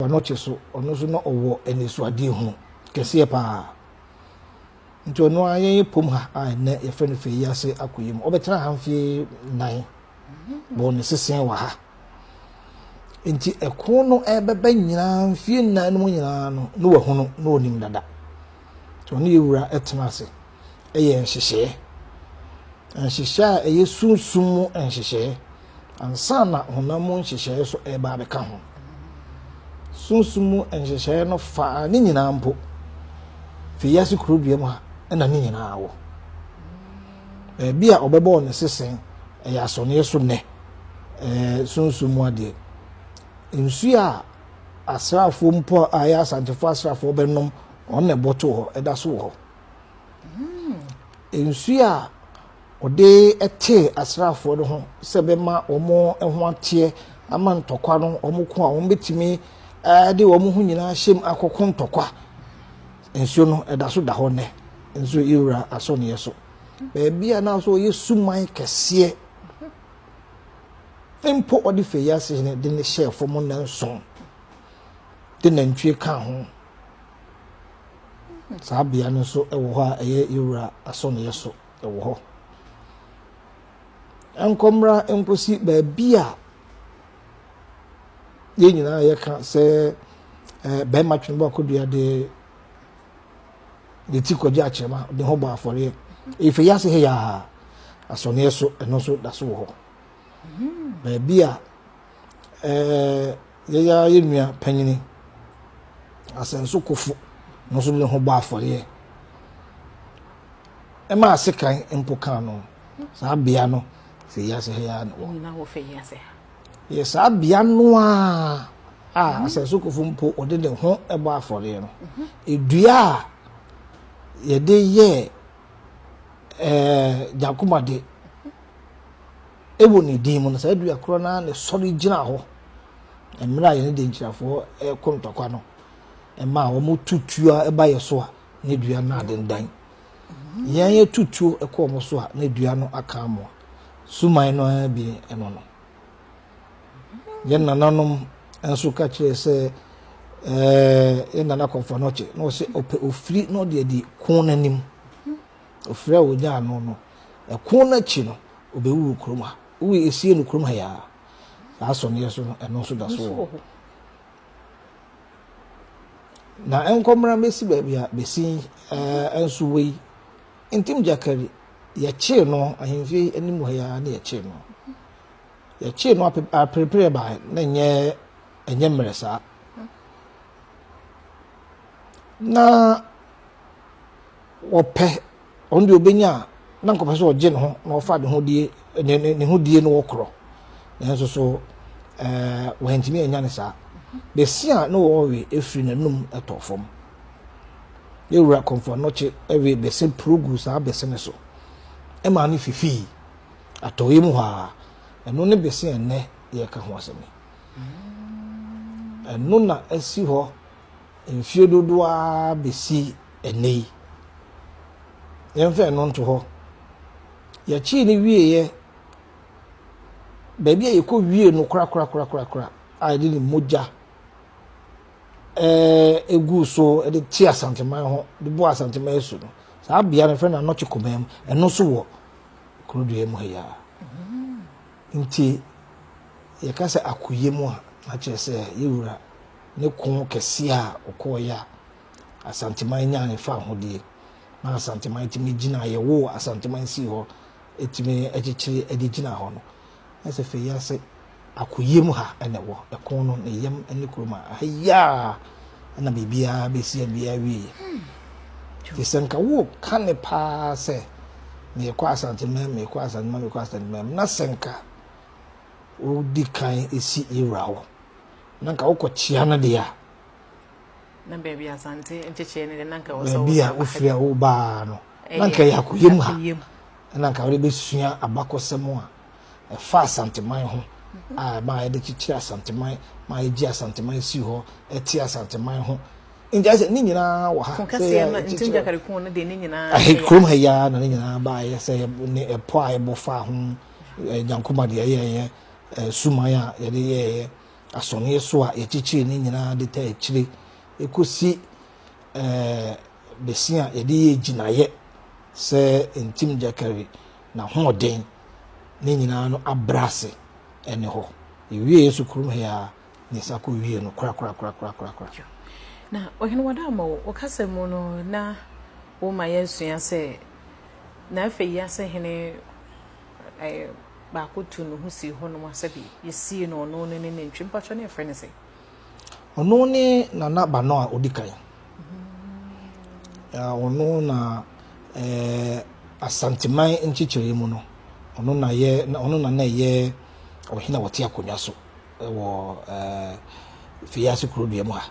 Banɔkye so, ɔno nso na ɔwɔ anisoadeɛ hunu kɛseɛ pa ara. Nti ɔno ara yɛn ɛpom ha a ɛnɛ yɛfrɛ no fɛ yi ase akoyɛ mu. Ɔbɛtena ha mfie nan bɔ ne sesɛn wɔ ha. Nti ɛko no ɛbɛbɛ nyinaa mfie nan no mu nyinaa no na wahunu na ɔnim dada. Nti ɔne yɛ wura ɛtena ase. yɛ nhyehyɛɛ, nhyehyɛɛ a ɛyɛ sunsum mu nhyehyɛɛ, ansa na honam mu nhyehyɛɛ nso ɛreba abɛka ho. Sunsum mu nhyehyɛɛ no faa ne nyinaa mpo. Fi wiase kurodua mu ha na ne nyinaa wɔ. Baabi a ɔbɛbɔɔ ne sesen ɛyɛ asɔneɛ so nnɛ, ɛɛ sunsum mu adeɛ. Nsuo a asraafoɔ mpo a ɛyɛ asantefoɔ asraafoɔ bɛnom, wɔn na ɛbɔto hɔ, ɛda so wɔ hɔ. Nsuo a wɔde tee asraafoɔ no ho sɛ ɛbɛma wɔn ho ateɛ ama ntɔkwa no wɔn ko a wɔbɛtumi de wɔn ho nyinaa ahyɛ mu akɔko ntɔkwa. Nsuo no ɛda so da hɔ nnɛ nso yɛwura asɔneɛ so. Baabi a na so wɔyɛ suman kɛseɛ mpo wɔde fɛ yi ase de ne hyɛɛ fam nnanson de nantwie ka ho. Saa bea no nso wɔ hɔ a ɛyɛ yɛn wura asɔneɛ so wɔ hɔ. Nkɔ mmra nkɔsi baabi a yɛn nyinaa yɛka sɛ ɛɛ bɛrima twene bɔ akodua de ne ti kɔgye akyerɛma de ho bɔ afɔreɛ. Efe yi ase ha yaa asɔneɛ so ɛno nso da so wɔ hɔ. Baabi a ɛɛ yɛn ara yɛn nua panyin Asɛnso Kofo no nso de ne ho bɔ afɔreɛ ɛma asekan mpo kan no saa bea no fɛ yi ase ha yi ara na wɔ yɛ saa bea no a a Asɛnso Kofo mpo ɔde ne ho bɔ afɔreɛ no mhm. edua a yɛde yɛ ɛɛ gyakomade. Wɔ ne din mu no, saa dua korɔ no ara na ɛsɔre gyina hɔ mmerɛ a yɛne Denkyirafoɔ reko ntɔkwa no. Ɛma a wɔtu tuo a ɛba yɛ so a, ne dua no adendan. Yɛn yɛtu tuo kɔ wɔn so a, ne dua no aka amoa. Suman no ara bi ɛno no. Yɛn nananom nso ka kyerɛ sɛ ɛɛ yɛn nana kɔmfɔnɔkye na ɔsɛ ɔpɛ ofiri na ɔde adi ko n'anim. Ofir a wonyaa ano no, ɛko no akyi no, obewuwu kurom ha. Wowui esie no kurom ha yi ara. Saa asɔneɛ so no, ɛno nso da so wɔ hɔ. Na ɛnkɔ mmra mmesi baabi a besi ɛɛ nso wɔ yi. Ntim Gyakari, yɛkyee no ahemfie anim ha yi ara na yɛkyee no. Yɛkyee no ape aperepereɛ baa na nyɛ ɛnyɛ mmerɛ saa. Na wɔpɛ, ɔno deɛ ɔbɛnya a na nkɔpɛ sɛ ɔgye ne ho na ɔfa ne ho die ne ne ne ho die no wɔ korɔ nanso so ɛɛ wɔntumi anya ne saa bɛsi a na wɔwe efiri n'anum ɛtɔ fam yɛwura kɔmfɔ anɔkye ɛwe bɛsɛ purugu saa bɛsɛ ne so ɛma ne fifii atɔyɛ mu hɔ a ɛno ne bɛsɛ ɛnɛ yɛka ho asɛm ɛno na ɛsi hɔ. mfeɛ dodoɔ ara bɛsi ɛnnɛ yi. Yɛmfa ɛno nto hɔ. Yɛkyee no wieeɛ, baabi a yɛkɔ wie no korakorakorakora a yɛde ne mogya ɛɛ gu so de te asanteman ho de bɔ asanteman asu no saa bea no fɛ no anɔkye kɔmaa mu ɛno nso wɔ kurodua mu ha yi ara nti yɛka sɛ akoyɛ mu a na kyerɛ sɛ yɛwura ne ko kɛseɛ a ɔkɔɔeɛ a Asanteman nyaeɛ faa ho deɛ, na Asanteman tumi gyina, yɛwoo Asanteman sii hɔ, ɛtumi kyekyere de gyina hɔ no, na sɛ fei ase akoyam ha na ɛwɔ, ɛko no ne yam ne kurom a, ha yi ara na biribiara bɛsi abia awieɛ. Nti sɛ nka woka ne paa sɛ meekɔ Asanteman, meekɔ Asanteman, meekɔ Asanteman, na sɛ nka wodi kan si yɛwura hɔ, na nka wokɔ kyea no deɛ a na baabi asante nkyekyeɛ no deɛ na nka wɔ sɛ baabi a wofiri a wobaa no na nka yɛ akoyɛ mu ha na nka wode bɛsua abakɔsɛm a ɛfa asanteman ho mhm. a ma yɛde kyekyere asanteman ma yɛgye asanteman si hɔ ɛte asanteman ho nti sɛ ne nyinaa wɔ ha kurom ha yi ara na ne nyinaa baayɛ sɛ ne ɛpɔ a ɛbɔ fa ho nyankoma deɛ ɛyɛɛyɛ suman a yɛde yɛeɛ, asɔneɛ so a yɛkyekyeree ne nyinaa de taa akyire kɔsi bɛsi a yɛde yɛ gyinaeɛ sɛ ntim gyakari na hoɔden ne nyinaa no abrɛ ase ɛne hɔ. Yɛwieɛ so kurom he a ne nsa kɔ wie no korakorakorakorakora. Na Ɔhene Wɔdammɔ, wo kasa mu no na woma yɛasua sɛ na afei asahi ne baako tuu ne ho sii hɔnom a sɛdeɛ yɛsii no ɔno ne ne nantwie. Mpakyɛ ne yɛfrɛ no sɛ? Ɔno ne nana ba no a ɔdi kan. Ɔno na eh, Asanteman nkyekyere mu no, ɔno na yɛ ɔno na na ɛyɛ ɔhene a ɔte akonnwa so wɔ eh, Fiase kuro dua mu ha.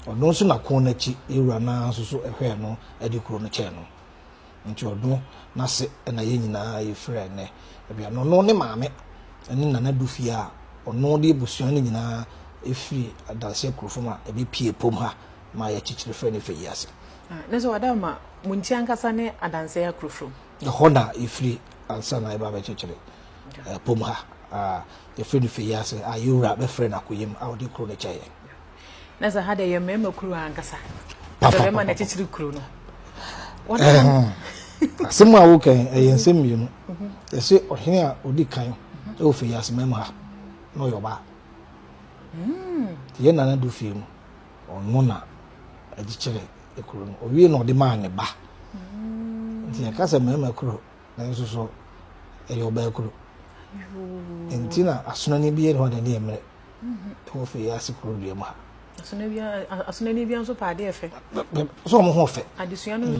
Ɔno nso na ko n'akyi ewura no nso so hwɛɛ no de kuro no kyɛɛ no. Nti ɔno n'ase na yɛn nyinaa yɛfiri ɛnnɛ. Ebia no ɔno ne maame ne Nana Dufie a ɔno de abusua no nyinaa ɛfiri Adanseɛ Kurofo mu a ɛbɛpie Pom ha ma yɛkyekyere frɛ no fɛ yi ase. Ne sɛ wada ma mo nti ankasa ne Adanseɛ Kurofo mu. Ɛhɔ na yɛfiri ansa na yɛba bɛkyekyere Pom ha a yɛfrɛ no fɛ yi ase a yɛwura bɛfrɛ no Akoyam a ɔde kuro no kyɛɛ yɛn. Na sɛ ha deɛ yɛ mmarima kuro ankasa. Sɛ bɛrima na kyekyere kuro no. Asɛm a woka yi ɛyɛ nsɛm mmienu. Yɛsɛ mhm. ɔhene a ɔdi kan mhm. ɛwɔ fɛ yɛase mmarima ha na ɔyɛ ɔbaa. Hmm. Yɛ nana do fie no ɔno na agyekyerɛ kuro no ɔwie na ɔde maa ne ba. Hmm. Nti yɛka sɛ mmarima kuro nanso so ɛyɛ ɔbaa kuro. Nti na asonani bi yɛ ne hɔ na ne yɛ mmerɛ. ɛwɔ fɛ yɛ ase kuro dua mu ha. Asonani bi nso pɛ adeɛ fɛ. So wɔn ho fɛ. Adesua no.